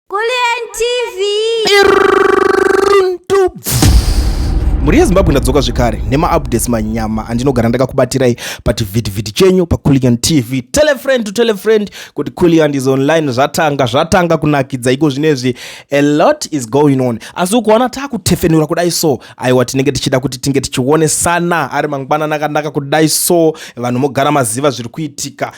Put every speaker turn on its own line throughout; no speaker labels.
Kulliant TV. mhuri yezimbabwe ndadzoka zvekare nemaupdates manyama andinogara ndakakubatirai pachivhitivhiti chenyu paculian tv telefriend to telefriend kuti culian is online zvatanga zvatanga kunakidza iko zvinezvi a lot is going on asi ukuona takutefenura kudai so aiwa tinenge tichida kuti tinge tichionesana ari mangwanana akanaka kudai so vanhu mogara maziva zviri kuitika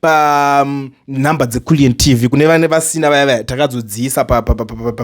panhamba um, dzeculient tv kune vane vasina vaya vaya takazodziisa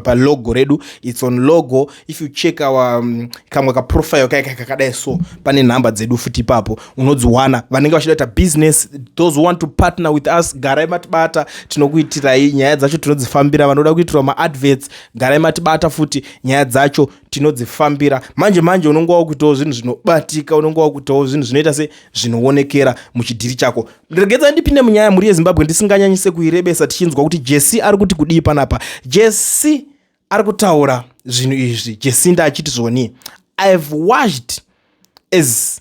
palogo redu its on logo if you check our um, kamwe kaprofile kaye kakadai so pane nhamba dzedu futi ipapo unodziwana vanenge vachida kuita business those who want to partner with us garai matibata tinokuitirai nyaya dzacho tinodzifambira vanoda kuitirwa maadverts garai matibata futi nyaya dzacho tinodzifambira manje manje unonga wakuitawo zvinhu zvinobatika unonga wakuitawo zvinhu zvinoita se zvinoonekera muchidhiri chako regedza ndipinde munyaya mhuri yezimbabwe ndisinganyanyise kuirebesa tichinzwa kuti jesi ari kuti kudii panapa jesi ari kutaura zvinhu izvi jesinda achiti zvoni ihave washed as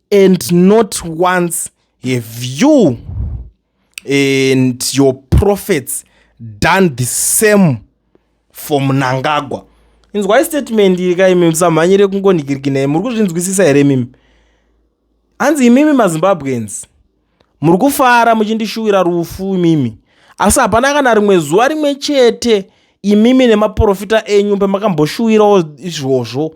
and not once have you and your prophets done the same for munangagwa inzwai statement iri ka imimi samhanyire kungonhikirikinai muri kuzvinzwisisa here imimi hanzi imimi mazimbabweans muri kufara muchindishuwira rufu imimi asi hapana kana rimwe zuva rimwe chete imimi nemaprofita enyu pamakamboshuwirawo izvozvo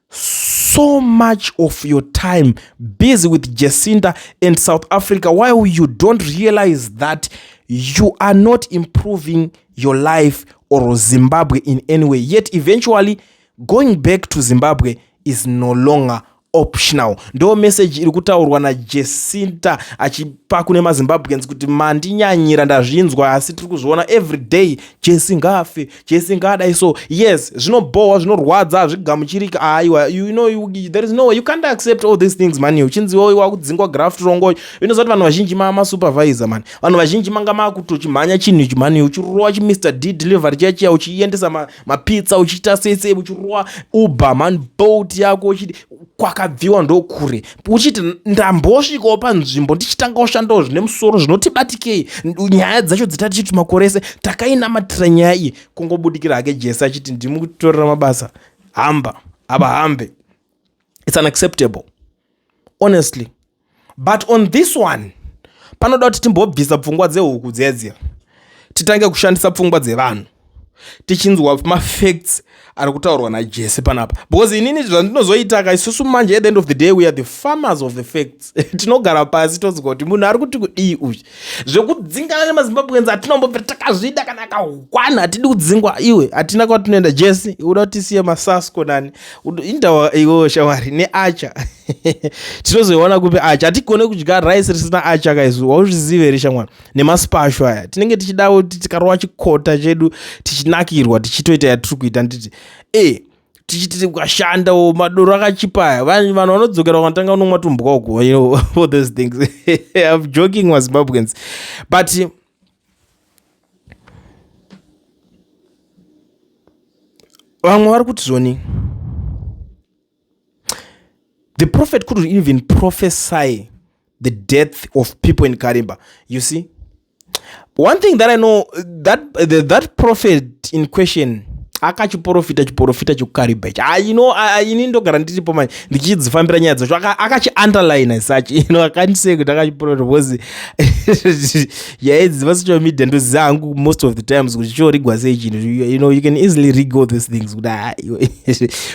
so much of your time busy with Jacinta and South Africa while you don't realize that you are not improving your life or Zimbabwe in any way. Yet eventually going back to Zimbabwe is no longer optional ndo message iri kutaurwa najesinta achipa kune mazimbabweans kuti mandinyanyira ndazvinzwa asi tiri kuzviona every day jesi ngaafe chesingadai so yes zvinobhohwa zvinorwadza hazvigamuchirika aiwa you know you, there is no way you can't accept all these things mani uchinziwa uyu wakudzingwa graft rongoyo inoziva kuti vanhu vazhinji maa masupervisor mani vanhu vazhinji manga maakutochimhanya chinhu ichi mani uchirowa chimr d delivery chachiya uchiendesa mapizza ma uchiita sese uchirowa uber mani bolt yako uchiti kwakabviwa ndokure uchiti ndambosvikawo panzvimbo ndichitanga kushandawo zvine musoro zvinoti batikei nyaya dzacho dzita tichiti makore ese takainamatira nyaya iyi kungobudikira hake jese achiti ndimutorera mabasa hamba ava hambe its unacceptable honestly but on this one panoda kuti timbobvisa pfungwa dzehuku dzedziya titange kushandisa pfungwa dzevanhu tichinzwa mafacts ari kutaurwa najese panapa because inini zvandinozoitaka isusu manje at the end of the day weare the farmers of the facts tinogara pasi tonzwa kuti munhu ari kuti kudii uyu zvekudzingana nemazimbabwenzi atinombobva takazvida kana akahwana hatidi kudzingwa iwe hatina kwatinoenda jese uda kuti tisiye masasko nani indawa iwo shawari neacha tinozoiona kupi acha hatigone kudya rice risina acha kaizu wauzvizive here shamwana nemasipacho aya tinenge tichidawo kuti tikarova chikota chedu tichinakirwa tichitoita yatiri kuita nditi e tichiti ukashandawo madoro akachipa aya vanhu vanodzokera vanotanga unomwa tumbwa uko you know, all those things im joking mazimbabweans but vamwe vari kuti zvoni the prophet couldn't even prophesy the death of people in karimba you see one thing that i know that the, that prophet in question akachiporofita chiporofita chekukarimba ichi ah, you know ini ndogara ndiripo manje ndichidzifambira nyaya dzacho akachiunderline such you know akandiseekuti akachiporofita because yaedzi dzepasocial media ndoziva hangu most of the times kuti chiorigwa sei chinhu you know you can easily rig all these things kuti ah,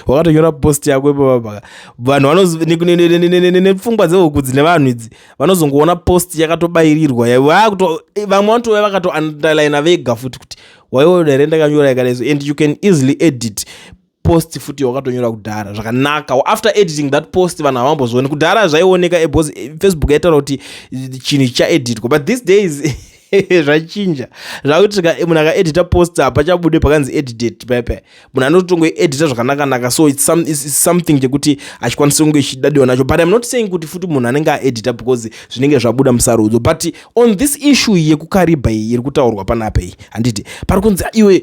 wakatonyora post yako ipapapaka vanhu nepfungwa dzehuku dzine vanhu idzi vanozongoona post yakatobairirwa vamwe vanotouya vakatounderlina vega futi kuti waiona here ndakanyora yakadaiso and you can easily edit post futi wakatonyora kudhara zvakanaka after editing that post vanhu havambozvione kudhara zvaioneka eh, bcause eh, facebook yaitaura kuti eh, chinhu chaeditwa but these days zvachinja zvakuti munhu akaedita post hapachabude pakanzi edited pepe munhu anototongoedita zvakanakanaka so it's, some, it's something chekuti achikwanisa kunge chidadiwa nacho but im not saying kuti futi munhu anenge aedita because zvinenge zvabuda musarudzo but on this issue yekukaribha iyi iri kutaurwa panapa iyi handiti pari kunzi iwe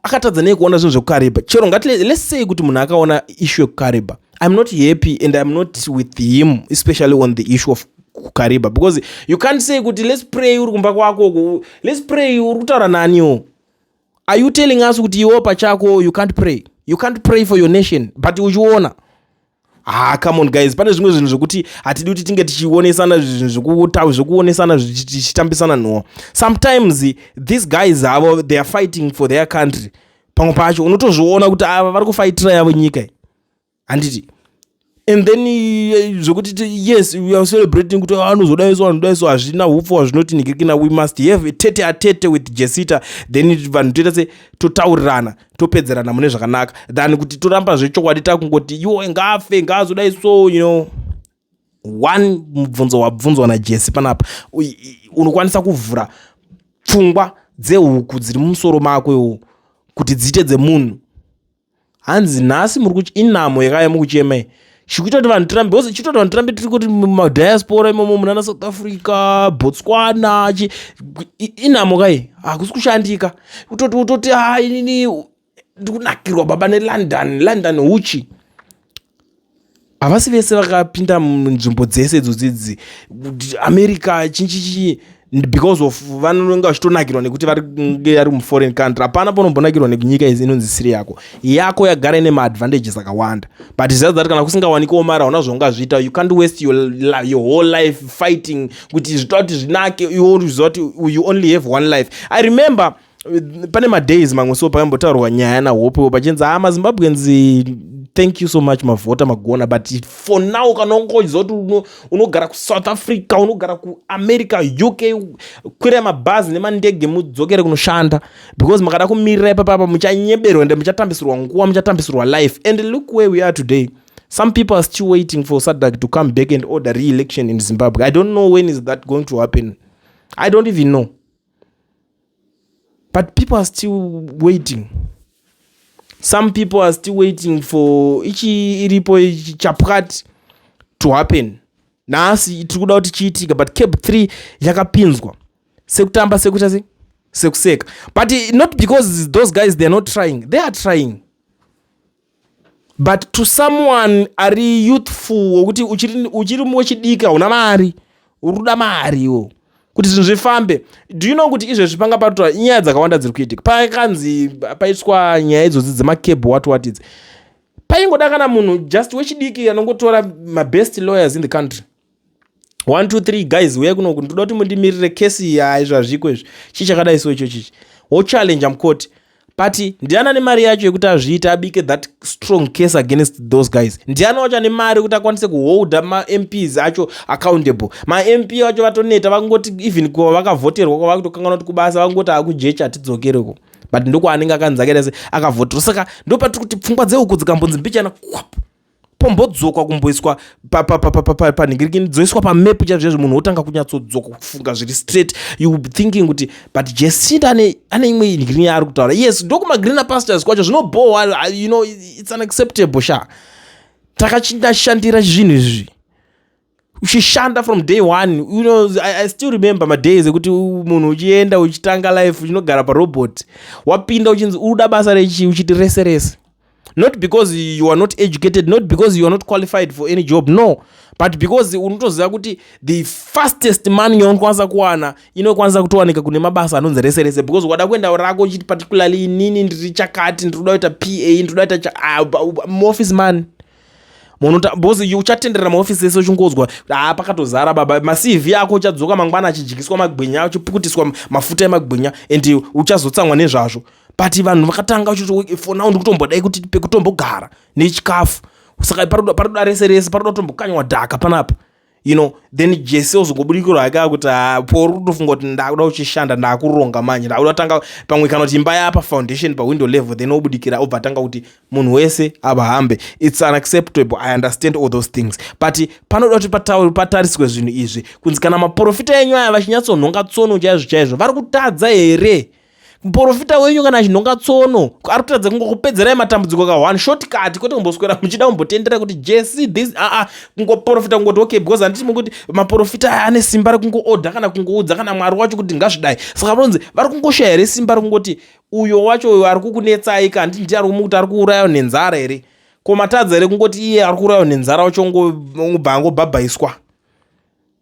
akatadza nei kuona zvinhu zvekukariba chero ngati let's say kuti munhu akaona issue yekukariba i'm not happy and i'm not with him especially on the issue of kukariba because you can't say kuti let's pray uri kumba kwako let's pray uri kutaura naniwo are you telling us kuti iwo pachako you can't pray you can't pray for your nation but uchiona haa come on guys pane zvimwe zvinhu zvokuti hatidi kuti tinge tichionesana zvinhu zvokuta zvokuonesana zvichitambisana nhowa sometimes these guys avo they are fighting for their country pamwe pacho unotozviona kuti ava vari kufaitira yavo nyika iyi handiti and then eh, zvokuti yes we are celebrating kuti ah, anozodayiso vanhu dayiso hazvina upfu hazvinoti nikirikina we must have tete atete with jesita then vanhu toita se totaurirana topedzerana mune zvakanaka than kuti toramba zvechokwadi takungoti iwo ngafe ngaazodai so you know one mubvunzo wabvunzwa najesi panapa unokwanisa kuvhura pfungwa dzehuku dziri mumusoro mako iwo kuti dziite dzemunhu hanzi nhasi muri kuchi inhamo yakaya mukuchemei chikuita kuti vanhu tirambe ose chitoita kuti vanhu tirambe tiri kuti mumadiaspora imomo munana south africa botswana chi inhamo kai hakusi kushandika utoti utoti ha inini ndikunakirwa baba nelondon london uchi havasi vese vakapinda munzvimbo dzese idzodzidzi america chinchichii because of vanonge vachitonakirwa nekuti varinge ari muforeign country hapana panombonakirwa nekunyika izi inonzi siri yako yako yagara ine maadvantages akawanda but zvizazi zati kana kusingawanikewo mari hauna zvaungazviita you can't waste your, your whole life fighting kuti zvita kuti zvinake iwo uziva kuti you only have one life i remember pane madays mamwe so pakambotaurwa nyaya nahopewo pachinzi haa ah, mazimbabweans thank you so much mavhota magona but for now kana ungoziva kuti unogara kusouth africa unogara kuamerica uk kwirai mabhazi nemandege mudzokere kunoshanda because makada kumirira ipapapa muchanyeberwa ende muchatambisirwa nguva muchatambisirwa life and look where we are today some people are still waiting for sadak to come back and order re-election in zimbabwe i don't know when is that going to happen i don't even know but people are still waiting some people are still waiting for ichi iripo chapwati to happen nhasi tiri kuda kuti chiitika but cab 3 yakapinzwa sekutamba sekuita se sekuseka but not because those guys theyare not trying they are trying but to someone ari youthful wokuti uchiri, uchiri wechidiki hauna mari uri kuda mari iwo kuti zvinhu zvifambe do you know kuti izvezvi panga patoa nyaya dzakawanda dziri kuitika pakanzi paiswa nyaya idzodzi dzemacable wat wat idzi paingoda kana munhu just wechidiki anongotora mabest lawyers in the country one two three guys huyai kunoku ndoda kuti mundimirire kesi ya izvazviko izvi chii chakadai so icho chichi wochallenja mukoti but ndiana nemari yacho yekuti azviite abike that strong case against those guys ndiana wacho ane mari yekuti akwanise kuholda mamps acho accountable mamp vacho vatoneta vakungoti even kuva vakavhoterwa kwava kutokanganwa kuti kubasa vakungoti akujecha hatidzokereko but ndokwaanenge akanzi akaita se akavhoterwa saka ndo patiri kuti pfungwa dzeuku dzikambonzi mbichana kwapo pombodzokwa kumboiswa panhingirikini dzoiswa pamap chaizvo chaizvo munhu wotanga kunyatsodzoka kufunga zviri straight you thinking kuti but jesint ane imwe nhingirikini yaari kutaura yes ndokumagreener pastors kwacho zvinobhohwa uh, you know its unacceptable sha takachinashandira zvinhu izvi uchishanda from day one you know, I, i still remember madays ekuti munhu uchienda uchitanga life uchinogara parobot wapinda uchinzi uda basa rechi uchiti rese rese not because you are not educated not because you are not qualified for any job no but because unotoziva kuti the fastest money yaunokwanisa kuwana inokwanisa kutowanika kune mabasa anonzi rese rese because wada kuenda rako uchiti particularly inini ndiri chakati ndiri kuda kuita pa ndiri kuda kuita ah, muoffice money munhu boss you uchatenderera maofisi ese uchingodzwa haa pakatozara baba macv ako uchadzoka mangwana achidyiswa magwinya uchipukutiswa mafuta emagwinya and uchazotsamwa nezvazvo but vanhu vakatanga uchiti for now ndikutombodai kuti pekutombogara nechikafu saka paroda rese rese paroda kutombokanywa dhaka panapa you know then jese ozongobudikirwa hake akuti ah, pauri kutofunga kuti ndakuda uchishanda ndakuronga manje ndakuda kutanga pamwe kana kuti imba yapa foundation pawindow level then obudikira obva atanga kuti munhu wese avahambe its unacceptable i understand all those things but panoda kuti patauri patariswe zvinhu izvi kunzi kana maprofita enyu aya vachinyatsonhonga tsono chaizvo chaizvo vari kutadza here muporofita wenyu kana achinhonga tsono ari kutaridza kungokupedzerai matambudziko ka one short kati kwete kumboswera muchida kumbotendera kuti jesi this aa ah, ah, kungoporofita kungoti okay because handiti mukuti maporofita aya ane simba rekungoodha kana kungoudza kana mwari wacho kuti ngazvidai saka vanonzi vari kungoshaya here simba rekungotii uyo wacho uyo ari kukunetsai ka handiti ndiye ari kumukuti ari kuurayawo nenzara here ko matadza here kungoti iye ari kuurayawo nenzara wacho ngobva angobhabhaiswa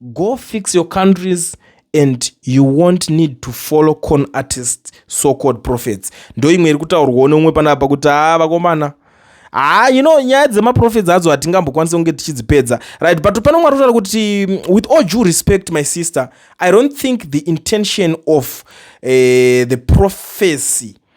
Go fix your countries and you won't need to follow con artist so called prophets ndoimwe iri kutaurwawo neumwe panapa kuti haa vakomana haa you know nyaya dzemaprofets adzo hatingambokwanisa kunge tichidzipedza right but pano mwari kutaura kuti mm, with all due respect my sister i don't think the intention of uh, the prophecy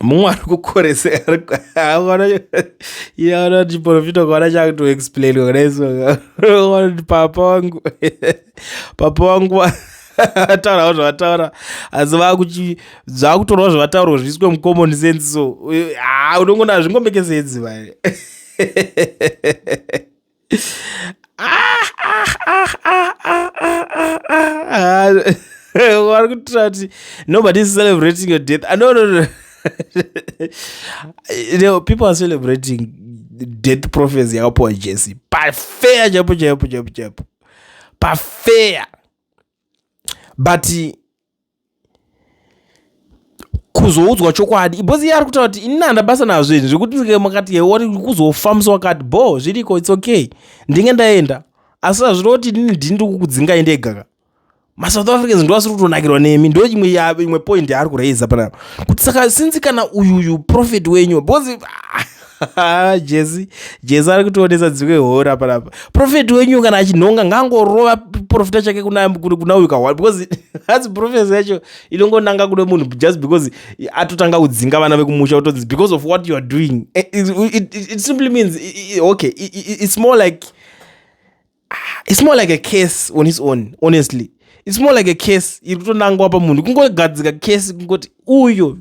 mumwe ari kukoresa chiporofita kwaana chakutoexplain kudaisoanoti papa wangu papa wangu vataurawo zvavataura asi vakuti zvakutorawo zvavataurwa zviiswe mucommon sense so haa unongonaa zvingomekesenzi vai vari kutura kuti nobody is celebrating your death ah, no, no, no. you know, people are celebrating death prophecy yakapuwa jesi pafeya chaipo chaipo chaipo chaipo pafeya but kuzoudzwa chokwadi because iye ari kutaura kuti inini handa basa nazvo izvi zvekuti ndike makati yewari kuzofa musi wakati bho zviriko its okay ndinge ndaenda asi hazviro kuti inini ndini ndiri kukudzingai ndegaka masouth africans ndo asiri kutonakirwa nemi ndo imwe imwe point yaari kuraiza panapa kuti saka sinzi kana uyuyu profit wenyu because jesi jesi ari kutionesa dzimwe hora panapa profeti wenyu kana achinhonga ngangorova profita chake kuna uyu kahwani because hasi profesi yacho inongonanga kune munhu just because atotanga kudzinga vana vekumusha otonzi because of what you are doing eh, it, it, it, it simply means okay it, it's more like ah, it's more like a case on his own honestly it's more like a case iri kutonangwa pamunhu kungogadzika case kungoti uyo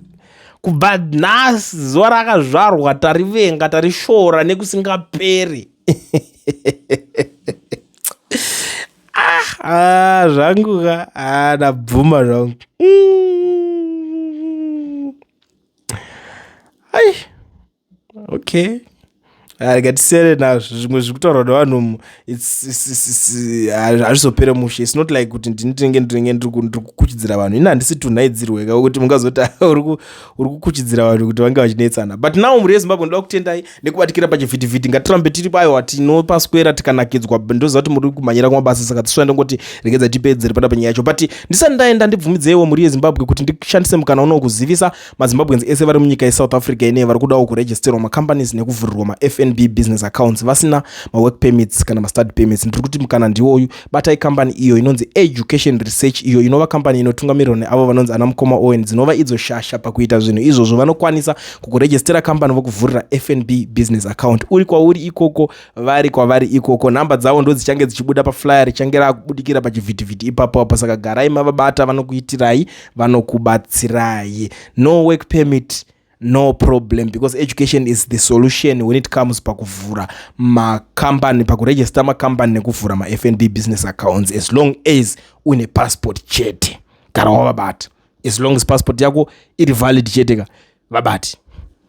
kubva nhasi zuva rakazvarwa tarivenga tarishora nekusingaperi ah, ah, zvangu ka ah, ndabvuma zvangu mm. ai okay rega ah, tisere nazvo zvimwe zviri kutaurwa nevanhu hazvizopere mushe its not like kuti ndini tinenge ndinenge ndiri kukuchidzira vanhu ini handisi tunhaidzirweka wekuti mungazoti uri kukuchidzira vanhu kuti vange vachinetsana but now mhuri yezimbabwe ndoda kutendai nekubatikira pachivhitivhiti ngatirambe tiri paiwa tinopaswera tikanakidzwa ndoziva kuti muri kumhanyira kumabasa saka tisvira ndongoti regedza tipedzere pana penyaya yacho but ndisati ndaenda ndibvumidzeiwo mhuri yezimbabwe kuti ndishandise mukana unowo kuzivisa mazimbabweans ese vari munyika yesouth africa inei vari kudawo kuregisterwa macompanies nekuvhurirwa mafnb business accounts vasina mawork permits kana mastudy permits ndiri kuti mukana ndiwoyu batai kambani iyo inonzi education research iyo inova kambani inotungamirirwa neavo vanonzi ana mukoma owen dzinova idzo shasha pakuita zvinhu izvozvo vanokwanisa kukuregistera kambani vokuvhurira fnb business account uri kwauri ikoko vari kwavari ikoko nhamba dzavo ndo dzichange dzichibuda paflyer richange raakubudikira pachivhitivhiti ipapo apo saka garai mavabata vanokuitirai vanokubatsirai no work permit no problem because education is the solution when it comes pakuvhura macompany pakuregister macompany nekuvhura mafnb business accounts as long as une passport chete gara wavabati as long as passport yako iri valid chete ka vabati